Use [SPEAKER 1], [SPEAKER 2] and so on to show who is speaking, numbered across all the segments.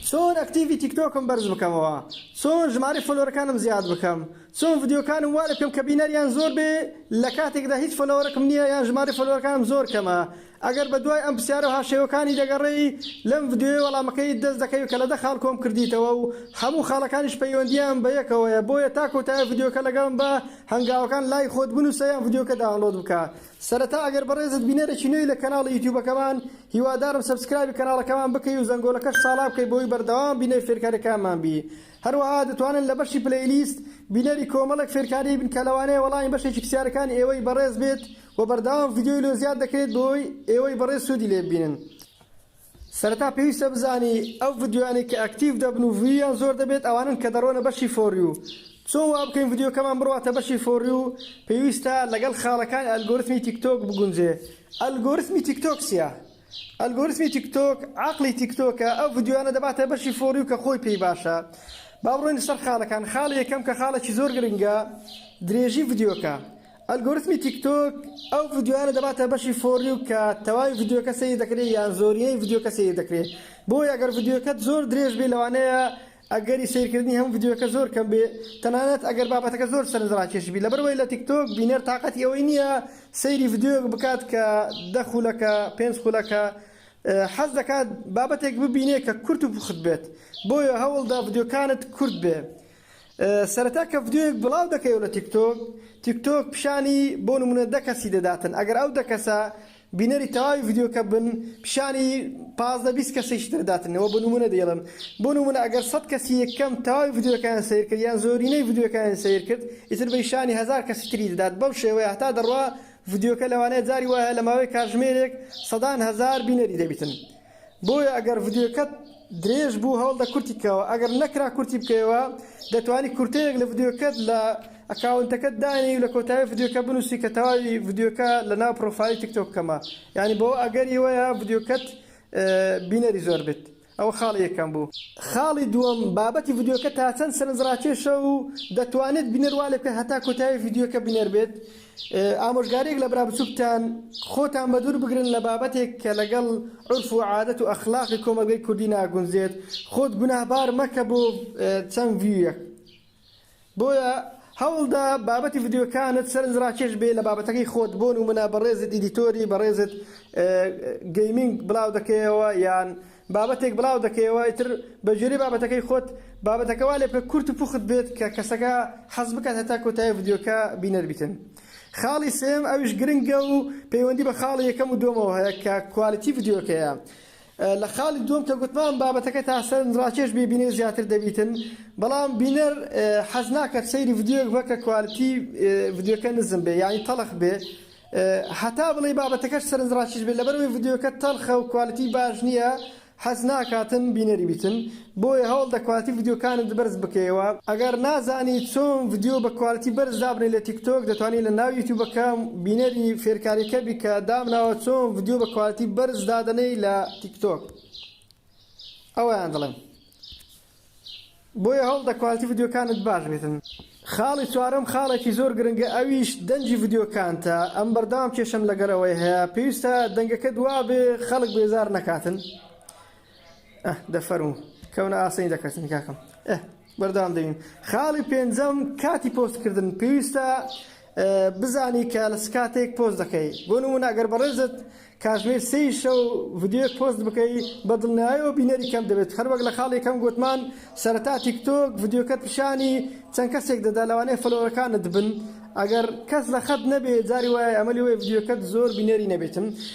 [SPEAKER 1] چۆن ئەکتیڤی تیکتۆکم بەرز بکەمەوە چۆن ژمارەی فۆلۆرەکانم زیاد بکەم چۆن ڤیدیۆکانم وا لێ بکەم کە بینەریان زۆر بێ لە کاتێکدا هیچ فۆلۆوەرەکم نییە یان ژمارەی فۆلۆوەرەکانم زۆر کەمە ئەگەر بە دوای ئەم پرسیارە و هاوشێوەکانی دەگەڕێی لەم ڤیدیۆیە وەڵامەکەیت دەست دەکەوی کە لە دە خاڵ کۆم کردیتەوە و هەموو خاڵەکانیش پەیوەندییان بە یەکەوەیە بۆیە تا کۆتایی ڤیدیۆکە لەگەڵم بە هەنگاوەکان لای خۆت بنووسە یان ڤیدیۆکە داونڵۆد بکە سەرەتا ئەگەر بەڕێزت بینەرێکی نوێی لە کەناڵی یوتیوبەکەمان هیوادارم سەبسکرایبی کەناڵەکەمان بکەی و زەنگۆلەکەش ساڵا بکەی بۆوەی بەردەوام بینەری فێرکاریەکانمان بی هەروەها دەتوانن لە بەشی پلەیلیست بینەری کۆمەڵێک فێرکاری بن کە لەوانەیە وەڵامی بەشێکی پسیارەکانی ئێوەی بەڕێز بێت وە بەردەوام ڤیدیۆی لۆ زیاد دەکرێت بۆوەی ئێوەی بەڕێز سودی لێ ببینن. سەرەتا پێویستە بزانی ئەو ڤیدیۆیانەی کە ئەکتیڤ دەبن و ڤیویان زۆر دەبێت ئەوانەن کە دەڕۆنە بەشی فۆریو چۆن وا بکەین ڤیدیۆکەمان بڕواتە بەشی فۆریو پێویستە لەگەڵ خاڵەکانی ئەلگۆرتمی تیک تۆک بگونجێ ئەلگۆرتمی تیک تۆک چیە ئەلگۆرتمی تیک تۆک عەقڵی تیک تۆکە ئەو ڤیدیۆیانە دەباتە بەشی فۆریو کە خۆی پێی باشە با بڕۆینە سەر خاڵەکان خاڵی یەکەم کە خاڵێکی زۆر گرنگە درێژی ڤیدیۆکە ئەلگۆریتمی تیک تۆک ئەو ڤیدیۆیانە دەباتە بەشی فۆر یو کە تەواوی ڤیدیۆکە سەیر دەکرێت یان زۆرینەی ڤیدیۆکە سەیر دەکرێت بۆیە گەر ڤیدیۆکەت زۆر درێژ بێت لەوانەیە ئەگەری سەیرکردنی هەموو ڤیدیۆکە زۆر کەم بێت تەنانەت ئەگەر بابەتەکە زۆر سەرنجڕاکێش بی لەبەرئەوەی لە تیک تۆک بینەر تاقەتی ئەوەی نییە سەیری ڤیدیۆیەک بکات کە دە خولەکە پێنج خولەکە حەز دەکات بابەتێک ببینێت کە کورت و پوخت بێت بۆیە هەوڵدە ڤیدیۆکانت کورت بێت سەرەتا کە ڤدیۆیەک بڵاو دەکەیەوە لە تیکتۆک تیکتۆک پیشانی بۆ نمونە دە کەسی دەداتن ئەگەر ئەو دە کەسە بینەری تەواوی ڤدیۆکە بن پیشانی پازدە بیست کەسیش تر داتن ئەوە بۆ نمونە دەیڵن بۆ نمونە ئەگەر سەد کەسی یەکەم تەواوی ڤدیۆکەیان سەیر کرد یان زۆرینەی ڤدیۆکەیان سەیر کرد ئیتر بە پیشانی هەزار کەسی تری دەدات بەو شێوەیە هەتا دەڕوا ڤدیۆکە لەوانەیە جاری وایە لە ماوەی کاتژمێرێک سەدان هەزار بینەری دەبیتن بۆیە ئەگەر ڤیدیۆکەت درێژ بوو هەوڵدە کورتی کەوە ئەگەر نەکرا کورتی بکەیەوە دەتوانی کورتەیەک لە ڤیدیۆکەت لە ئەکاونتەکەت دانێی و لە کۆتایی ڤیدیۆکە بنووسی کە تەواوی ڤیدیۆکە لە ناو پرۆفایلی تیکتۆک کەمە یانی بەوە ئەگەری وەیە ڤیدیۆکەت بینەری زۆر بێت ئەوە خاڵی یەکەم بوو خاڵی دووەم بابەتی ڤیدیۆکە تا چەند سەرنجڕاکێشە و دەتوانێت بینەر وا لێ بکە هەتا کۆتایی ڤیدیۆکە بینەر بێت ئامۆژگاریەک لە برا بچوکتان، خۆتان بەدوور بگرن لە بابەتێک کە لەگەڵ عورف و عادەت و ئەخلاقی کۆمەڵگەی کوردی ناگونجێت، خۆت گوناهبار مەکە بۆ چەند ڤیویەک. بۆیە هەوڵدە بابەتی ڤیدیۆکانت سەرنجڕاکێش بێ لە بابەتەکەی خۆت، بۆ نمونە بەڕێزت ئیدیتۆری بەڕێزت گەیمینگ بڵاو دەکەیەوە یان بابەتێک بڵاو دەکەیەوە ئیتر بە گوێرەی بابەتەکەی خۆت بابەتەکە وا لێبکە کورت و پوخت بێت کە کەسەکە حەز بکات هەتا کۆتایی ڤیدیۆکە بینەر بیتن خاڵی سێم ئەویش گرنگە و پەیوەندی بە خاڵی یەکەم و دووەمەوە هەیە کە کوالیتی ڤیدیۆکەیە لە خاڵی دووەم کە گوتمان بابەتەکە تا سەرنج ڕاکێش بێ بینەر زیاتر دەبیتن بەڵام بینەر حەز ناکات سەیری ڤیدیۆک بکە کوالیتی ڤیدیۆکە نزم بێ یانی تەڵخ بێ هەتا بڵێی بابەتەکەش سەرنجڕاکیش بێت لەبەرئەوەی ڤیدیۆکە تەڵخە و کوالیتی باش نیە حەز ناکاتن بینەری بیتن بۆیە هەوڵدە کوالیتی ڤیدیۆکانت بەرز بکەیەوە ئەگەر نازانی چۆن ڤیدیۆ بە کوالیتی بەرز دابنێی لە تیک تۆک دەتوانی لە ناو یوتیوبەکە بینەری فێرکاریەکە بی کە دامناوە چۆن ڤیدیۆ بە کوالیتی بەرز دادەنێی لە تیک تۆک ئەوەیان دەڵێم. بۆیە هەوڵ دە کوالتی ڤیدیۆکانت باش بیتن. خاڵی چوارەم خاڵێکی زۆر گرنگە ئەویش دەنگی ڤیدیۆکانتە ئەمن بەردەوام کێشەم لەگەل ئەوەی هەیە پێویستە دەنگەکەت وابێ خەڵک بێزار نەکاتن ئەه دە فەرموو کەونە ئاسنی دەکەتن کاکەم ئەه بەردەوام دەبین خاڵی پێنجەم کاتی پۆست کردن پێویستە بزانی کە لە چ کاتێک پۆست دەکەی بۆ نمونە ئەگەر بەڕێزت کاتژمێر سێی شەو ڤیدیۆیەک پۆست بکەی بە دڵنیایەوە بینەری کەم دەبێت هەر وەک لە خاڵی یەکەم گوتمان سەرەتا تیکتۆک ڤیدیۆکەت پیشانی چەند کەسێک دەدا لەوانەیە فەلۆوەرەکانت بن ئەگەر کەس لە خەت نەبێت جاری وایە ئەمە لێ وایە ڤیدیۆکەت زۆر بینەری نەبێتن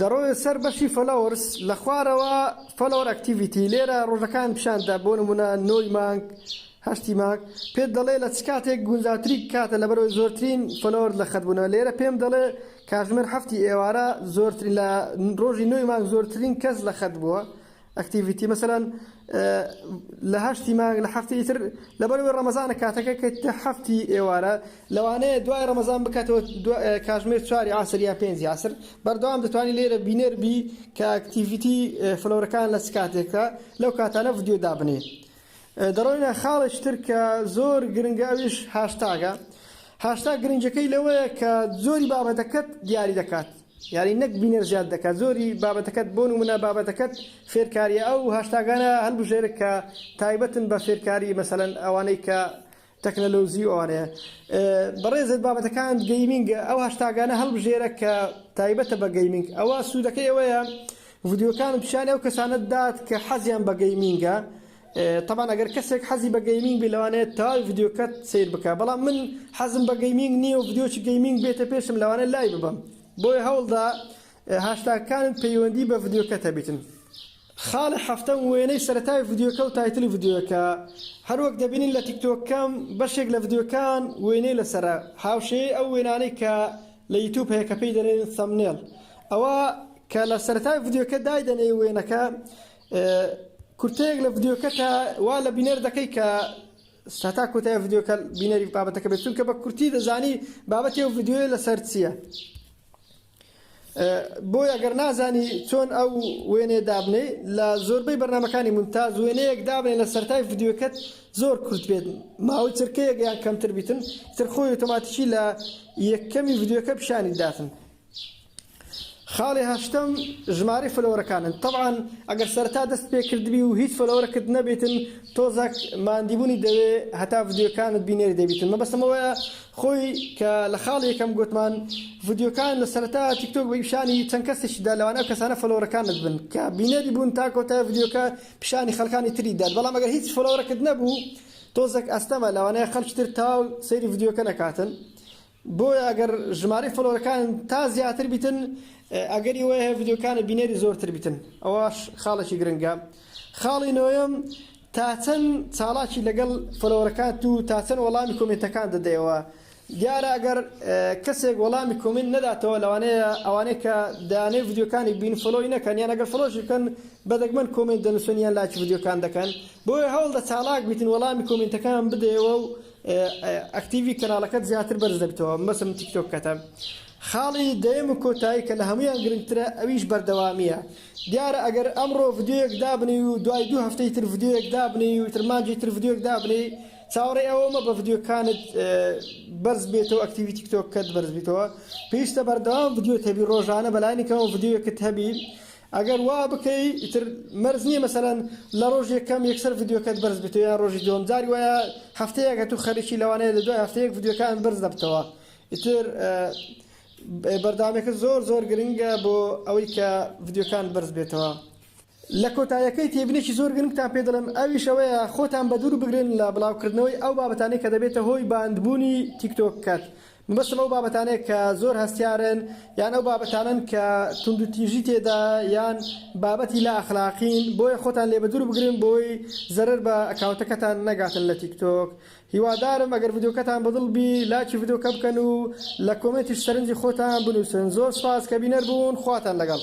[SPEAKER 1] دەڕۆیە سەر بەشی فۆلۆورس لە خوارەوە فۆلۆور ئەکتیڤیتی لێرە ڕۆژەکان پیشان دەدات بۆ نمونە نۆی مانگ هەشتی مانگ پێت دەڵێ لە چ کاتێک گونجاوتری کاتە لەبەرئەوەی زۆرترین فۆلۆورت لە خەت بونە لێرە پێم دەڵێ کاتژمێر هەفتی ئێوارە زۆرترین لە ڕۆژی نۆی مانگ زۆرترین کەس لە خەت بوە ئەکتیڤیتی مەسەلەن لە هەشتی مانگ لە هەفتی تر لەبەروی ڕەمەزانە کاتەکە کە هەفتی ئێوارە لەوانەیە دوای ڕەمەزان بکاتەوە کاژمێر چواری عسر یان پێنجی عسر بەردەوام دەتوانانی لێرە بینەر بی کە ئەکتیڤیتی فلۆرەکان لە چ کاتێکە لەو کاتانە ڤیدیۆ دابنێ دەڕۆینە خاڵێکی تر کە زۆر گرنگە ئەویش هاشتاگە هاشتا گرنگەکەی لەوەیە کە زۆری بابەتەکەت دیاری دەکات یانی نەک بینەر زیاد دەکات زۆری بابەتەکەت بۆ نمونە بابەتەکەت فێرکاریە ئەو هاشتاگانە هەلبژێرە کە تایبەتن بە فێرکاری مەسەلەن ئەوانەی کە تەکنەلۆزی ئەوانەیە بەڕێزت بابەتەکان گەیمینگە ئەو هاشتاگانە هەلبژێرە کە تایبەتە بە گەیمینگ ئەوە سوودەکەی ئەوەیە ڤیدیۆکان پیشانی ئەو کەسانت دات کە حەزیان بە گەیمینگە تەبعەن ئەگەر کەسێک حەزی بە گەیمینگ بی لەوانەیە تەواوی ڤیدیۆکەت سەیر بکا بەڵام من حەزم بە گەیمینگ نییە و ڤیدیۆکی گەیمینگ بێتە پێشم لەوانەیە لای ببەم بۆیە هەوڵدە هاشتاگەکانت پەیوەندی بە ڤیدیۆکەت هەبیتن خاڵی حەفتەم وێنەی سەرەتای ڤیدیۆکە و تایتلی ڤیدیۆکە هەروەک دەبینین لە تیکتۆکەم بەشێک لە ڤیدیۆکان وێنەی لەسەرە هاوشێی ئەو وێنانەی کە لە یوتوب هەیە کە پێی دەنێن ثەمنێڵ ئەوە کە لە سەرەتای ڤیدیۆکە دایدەنێی وێنەکە کورتەیەک لە ڤیدیۆکەتە وا لە بینەر دەکەی کە ستا کۆتای ڤیدیۆکە بینەری بابەتەکە بێت چونکە بە کورتی دەزانی بابەتی و ڤیددیوی لەسەر چییە بۆیە گەر نازانی چۆن ئەو وێنێ دابنێ لە زۆربەی بەرنمەکانی منتاز وێنەیەک دابنێ لە سەرای ڤیددیوکەت زۆر کورت بێت ماوەی چرکەیەک یان کەمتر بیتن ترخۆی ئۆتۆماتیکی لە یەکەمی ڤیددیوکە پیشانی داتن خاڵی هەشتەم ژمارەی فلۆرەکانن تەبعەن ئەگەر سەرەتا دەست پێ کردبی و هیچ فلۆرەکت نەبیتن تۆزەک ماندیبونی دەوێ هەتا ڤیدیۆکانت بینێری دەبیتن مەبەستم ئەوەیە خۆی کە لە خاڵی یەکەم گۆتمان ڤیدیۆکان لە سەرەتا تیکتۆک بە پیشانی چەند کەسێکی دا لەوانە کەسانە فلۆرەکانت بن کە بینەری بوون تا کۆتای ڤیدیۆکە پیشانی خەڵکانی تری دات بەڵام ئەگەر هیچ فلۆرەکت نەبوو تۆزەک ئەستەمە لەوانەیە خەڵکی تر تاو سەیری ڤیدیۆکە نەکاتن بۆیە ئەگەر ژمارەی فۆلۆرەکانن تا زیاتر بیتن ئەگەری وەیە هەیە ڤیدیۆکانت بینەری زۆرتر بیتن ئەوەش خاڵێکی گرنگە خاڵی نۆیەم تا چەند چاڵاکی لەگەڵ فۆلۆوەرەکانت و تا چەند وەڵامی کۆمێنتەکان دەدەیەوە دیارە ئەگەر کەسێک وەڵامی کۆمێنت نەداتەوە لەوانەیە ئەوانەی کە دانێ ڤیدیۆکانی بین فۆلۆی نەکەن یان ئەگەر فۆلۆشی بکەن بە دەگمەن کۆمێنت دەنووسن یان لایکی ڤیدیۆکان دەکەن بۆیە هەوڵدە چاڵاک بیتن وەڵامی کۆمێنتەکان بدەیەوە و ئەکتیڤی کەناڵەکەت زیاتر بەرز دەبیتەوە مەسم تیکتۆکەتە خاڵی دەیەم و کۆتایی کە لە هەموویان گرنگترە ئەویش بەردەوامیە دیارە ئەگەر ئەمڕۆ ڤیدیۆیەک دابنێی و دوای دوو هەفتەی تر ڤیدیۆیەک دابنێی و تر مانجی تر ڤیدیۆک دابنێی چاوەڕێ ئەوە مە بە ڤیدیۆکانت بەرز بێتەوە ئەکتیوی تیکتۆکەت بەرز بیتەوە پێویستە بەردەوام ڤیدیۆت هەبی ڕۆژانە بەلایەنێکەوە ڤیدیۆکت هەبی ئەگەر وا بکەی ئیتر مەرج نیە مەسەلەن لە ڕۆژی یەکەم یەکسەر ڤیدیۆکەت بەرز بێتەوە یان ڕۆژی دووەم جاری وایە هەفتەیەک ئەتوو خەریکی لەوانەیە لە دوای هەفتەیەک ڤیدیۆکان بەرز دەبتەوە ئیتر بەردەوامێکە زۆر زۆر گرنگە بۆ ئەوەی کە ڤیدیۆکان بەرز بێتەوە لە کۆتایەکەی تێبینێکی زۆر گرنگتان پێ دەڵێم ئەویش ئەوەیە خۆتان بە دوور بگرن لە بڵاوکردنەوەی ئەو بابەتانەی کە دەبێتە هۆی باندبوونی تیکتۆککەت مەبەستم ئەو بابەتانەیە کە زۆر هەستیارن یان ئەو بابەتانەن کە توندوتیژی تێدایە یان بابەتی لا ئەخلاقین بۆیە خۆتان لێ بەدوور بگرن بۆی زەرەر بە ئەکاونتەکەتان نەگاتن لە تیک تۆک هیوادارم ئەگەر ڤیدیۆکەتان بە دڵ بی لاکی ڤیدیۆکە بکەن و لە کۆمێنتیش سەرنجی خۆتان بنووسن زۆر سوپاس کە بینەر بوون خواتان لەگەڵ.